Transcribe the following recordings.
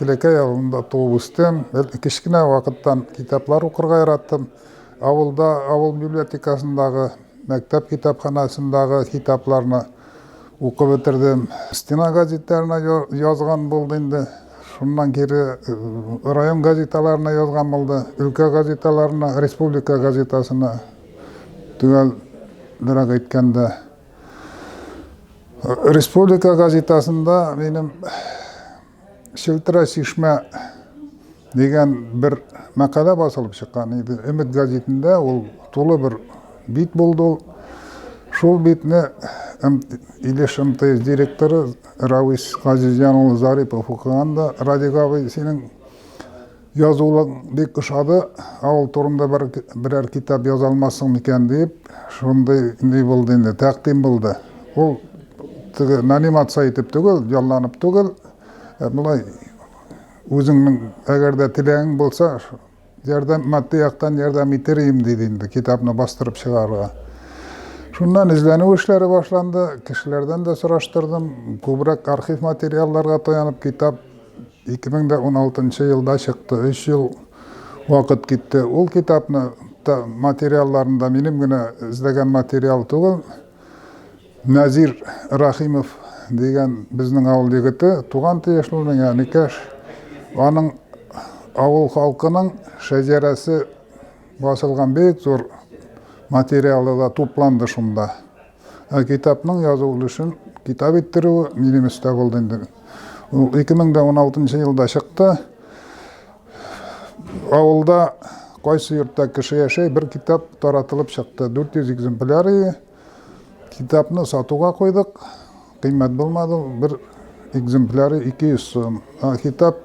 Телекәй авылында туып үстем. Кечкенә вакыттан китаплар укырга яраттым. Авылда, авыл библиотекасындагы, мәктәп китапханасындагы китапларны укып бетердем. Стена газетларына язган булды инде. Шуннан кире район газеталарына язган булды, өлкә газеталарына, республика газетасына төгәл дөрәк әйткәндә республика газетасында минем шелтра чишмә дигән бер мәкалә басылып чыккан иде өмет газетында ул тулы бер бит булды ул шул битне илеш мтс директоры Рәвис Газизҗан улы Зарипов укыганда, Радик абый, синең язулык бик ошады, авыл турында бер, берәр китап яза алмассың микән дип, шундый ни булды инде, тәкъдим булды. Ул теге нанимация итеп түгел, ялланып түгел, ә болай үзеңнең әгәр дә теләгең булса, Ярдәм, матди яктан ярдәм итер идем, диде инде, китапны бастырып чыгарырга. Шуннан эзләнү эшләре башланды, кешеләрдән дә сораштырдым, күбрәк архив материалларга таянып китап 2016 елда чыкты, 3 ел вакыт китте. Ул китапны материалларында минем генә эзләгән материал түгел, Назир Рахимов дигән безнең авыл егете, туган тиешле Яникәш. Аның авыл халкының шәҗәрәсе басылган бик зур материалы да тупланды шунда. Ә китапның язу өлешен китап иттерүе минем өстә булды инде. Ул 2016 елда чыкты. Авылда кайсы йортта кеше яшәй, бер китап таратылып чыкты. 400 экземпляры. Китапны сатуга куйдык. Кыйммәт булмады. Бер экземпляры 200 сум. Китап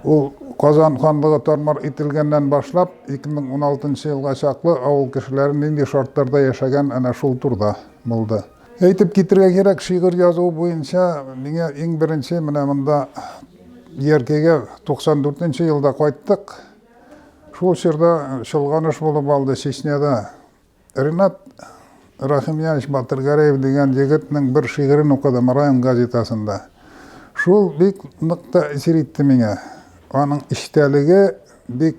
ул Казан ханлыгы тармар ителгәннән башлап 2016 елга чаклы авыл кешеләре нинди шартларда яшәгән әнә шул турда булды. Әйтеп китергә кирәк, шигырь язу буенча миңа иң беренче менә монда Яркәйгә 94 нче елда кайттык. Шул чорда чолганыш булып алды Чечняда. Ренат Рахимьянович Батыргәрәев дигән егетнең бер шигырен укыдым район газетасында. Шул бик нык тәэсир итте миңа. Аның эчтәлеге бик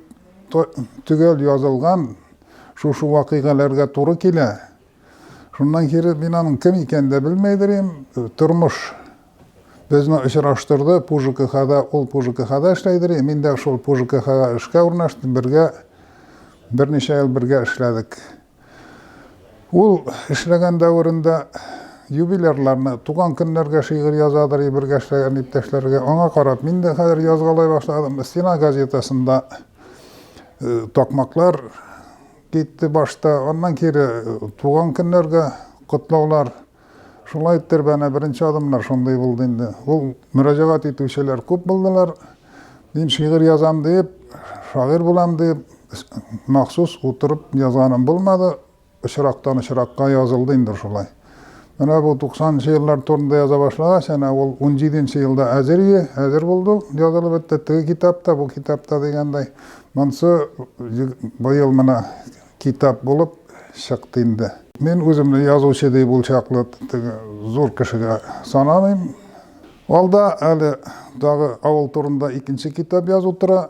төгәл язылган, шушы вакыйгаларга туры килә. Шуннан кире мин аның кем икәнен дә белмәйдер идем. Тормыш безне очраштырды. Пужкхада ул Пужкхада эшләйдер. Мин дә шул Пужкхага эшкә урнаштым. Бергә берничә ел бергә эшләдек. Ул эшләгән дәверендә юбилерларны, туган көннәргә шигырь язадыр, бергә эшләгән иптәшләргә. Аңа карап, мин дә хәзер язгалай башладым. Стена газетасында э, такмаклар Китте башта, аннан кире туган көннәргә котлаулар. Шулай иттер бәне беренче адымнар шундый булды инде. Ул мөрәҗәгать итүчеләр күп булдылар. Мин шигырь язам дип, шагыйрь булам дип, махсус утырып язганым булмады. Очрактан очракка язылды инде шулай. Менә бу 90-нчы еллар турында яза башлагач, әнә ул 17-нче елда әзер ие, әзер булды, язылып бетте. Теге китапта, бу китапта дигәндәй, монсы быел менә китап булып чыкты инде. Мин үземне язучы дип ул чаклы зур кешегә санамыйм. Алда әле тагы авыл турында икенче китап язу тора.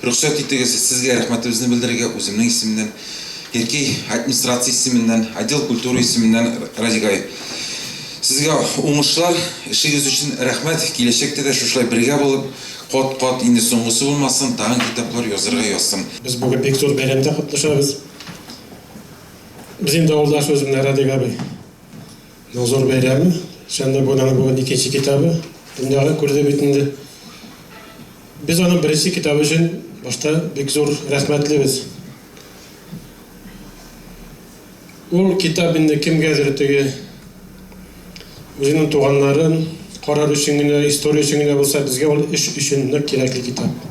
Рөхсәт итегез, сезгә рәхмәтебезне белдерергә үземнең исемнән, Ирки администрация исеменнән, отдел культура исеменнән Радик ай. Сезгә уңышлар, эшегез өчен рәхмәт, киләчәктә дә шушылай бергә булып, кат кат, инде соңгысы булмасын, тагын китаплар язырга язсын. Без бүген бик зур бәйрәмдә катнашабыз. Без инде авылдаш үземнең Радик абыйның зур бәйрәме. Чыннан да аның бүген икенче китабы дөньяга күрде бит инде. Без аның беренче китабы өчен башта бик зур рәхмәтлебез. Ул китап инде кемгәдер теге үзенең туганнарын карар өчен генә, история өчен генә булса, безгә ул эш өчен нык кирәкле китап.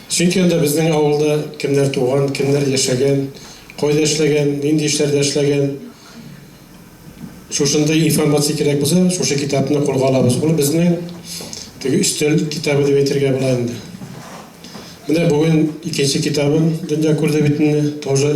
Чөнки анда безнең авылда кемнәр туган, кемнәр яшәгән, кайда эшләгән, нинди эшләрдә эшләгән, шушындый информация кирәк булса, шушы китапны кулга алабыз. Ул безнең теге өстәл китабы дип әйтергә була инде. Менә бүген икенче китабын дөнья күрде бит инде, тоже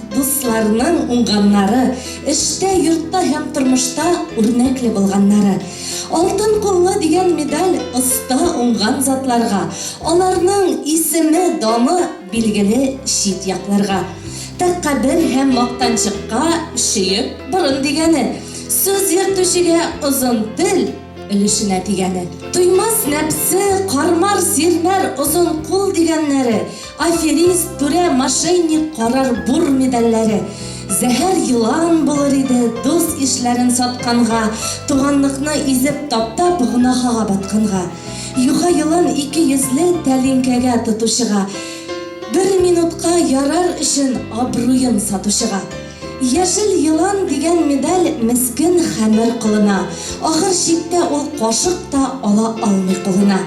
Дусларның уңганнары, эштә, йортта һәм тормышта үрнәкле булганнары. Алтын куллы дигән медаль оста уңган затларга, аларның исеме, даны билгеле чит якларга. Тәкъкабер һәм мактанчыкка чөек борын дигәне, сүз йөртүчегә озын тел, Өлешенә тигәне. Туймас нәпсе, кармар, сирмәр, озын кул дигәннәре, аферист, түрә, мошенник, карар бур медальләре. Зәһәр елан булыр иде, дус-ишләрен сатканга, туганлыкны изеп таптап, гөнаһага батканга. Юха елан ике йөзле тәлинкәгә тотучыга. Бер минутка ярар өчен абруен сатучыга. Яшел елан дигән медаль мескен хәмер колына. Ахыр чиктә ул кашык та ала алмый кулына.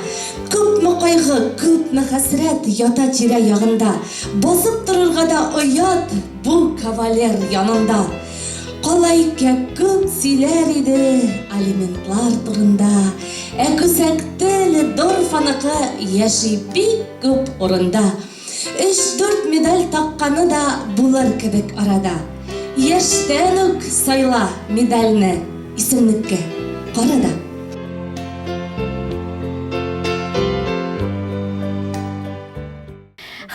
Күпме кайгы, күпме хәсрәт ята тирә-ягында. Басып торырга да оят бу кавалер янында. Калайкә күп сөйләр иде алиментлар турында. Ә күсәк теле Дорфаныкы яши бик күп урында. Өч-дүрт медаль такканы да булыр кебек арада. Яшьтән үк сайла медальне, исемлеккә кара да.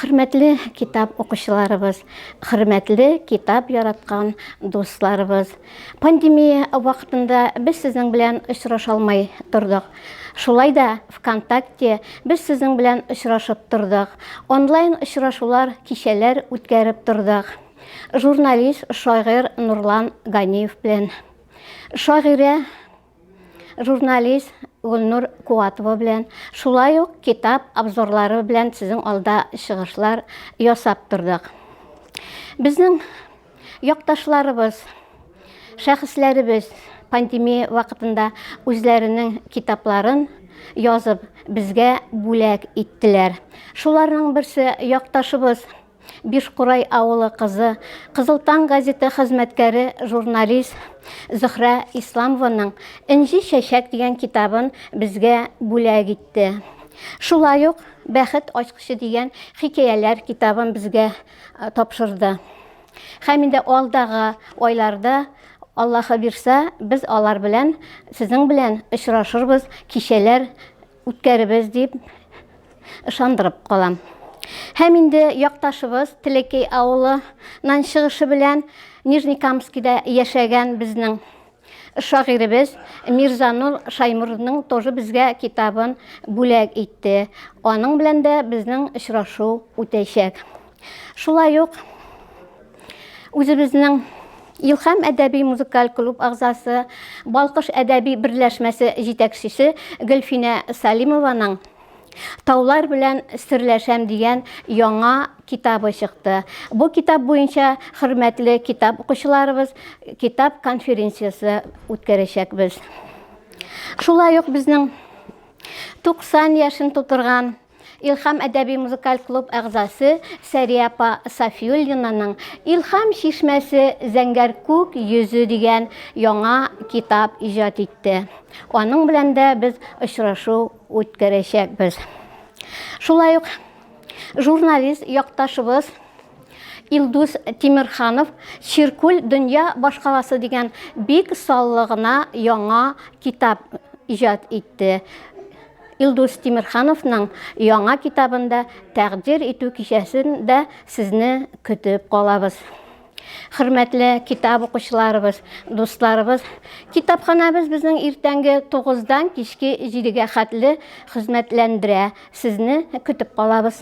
Хөрмәтле китап укучыларыбыз, хөрмәтле китап яраткан дусларыбыз! Пандемия вакытында без сезнең белән очраша алмай тордык. Шулай да ВКонтакте без сезнең белән очрашып тордык. Онлайн очрашулар, кичәләр үткәреп тордык. Журналист, шагыйрь Нурлан Ганиев белән. Шагыйрә журналист Гөлнур Куатова белән, шулай ук китап обзорлары белән сезнең алда чыгышлар ясап тордык. Безнең якташларыбыз, шәхесләребез пандемия вакытында үзләренең китапларын язып, безгә бүләк иттеләр. Шуларның берсе якташыбыз Бишкурай авылы кызы, Кызыл таң газеты хезмәткәре, журналист Зөхрә Исламованың Энҗе чәчәк дигән китабын безгә бүләк итте. Шулай ук Бәхет ачкычы дигән хикәяләр китабын безгә тапшырды. Һәм инде алдагы айларда, Аллаһы бирса, без алар белән, сезнең белән очрашырбыз, кичәләр үткәребез дип ышандырып калам. Һәм инде якташыбыз Телекей авылынан чыгышы белән Нижнекамскида яшәгән безнең шагыйребез Мирзанур Шаймурның тоже безгә китабын бүләк итте. Аның белән дә безнең очрашу үтәчәк. Шулай ук үзебезнең Илхам әдәби музыкаль клуб агзасы, Балкыш әдәби берләшмәсе җитәкчесе Гөлфинә Салимованың Таулар белән серләшәм дигән яңа китабы чыкты. Бу китап буенча хөрмәтле китап укучыларыбыз китап конференциясе үткәрәчәкбез. Шулай ук безнең 90 яшен тутырган Илһам әдәби-музыкаль клуб әгъзасы Сәрия апа Сафиуллинаның Илһам чишмәсе зәңгәр күк йөзе дигән яңа китап иҗат итте. Аның белән дә без очрашу үткәрәчәкбез. Шулай ук журналист якташыбыз Илдус Тимерханов Чиркүл дөнья башкаласы дигән бик саллы гына яңа китап иҗат итте. Илдус Тимерхановның яңа китабын да тәкъдир итү кичәсен дә сезне көтеп калабыз. Хөрмәтле китап укучыларыбыз, дусларыбыз, китапханабыз безнең иртәнге 9-дан кичке 7-гә хәтле хезмәтләндерә. Сезне көтеп калабыз.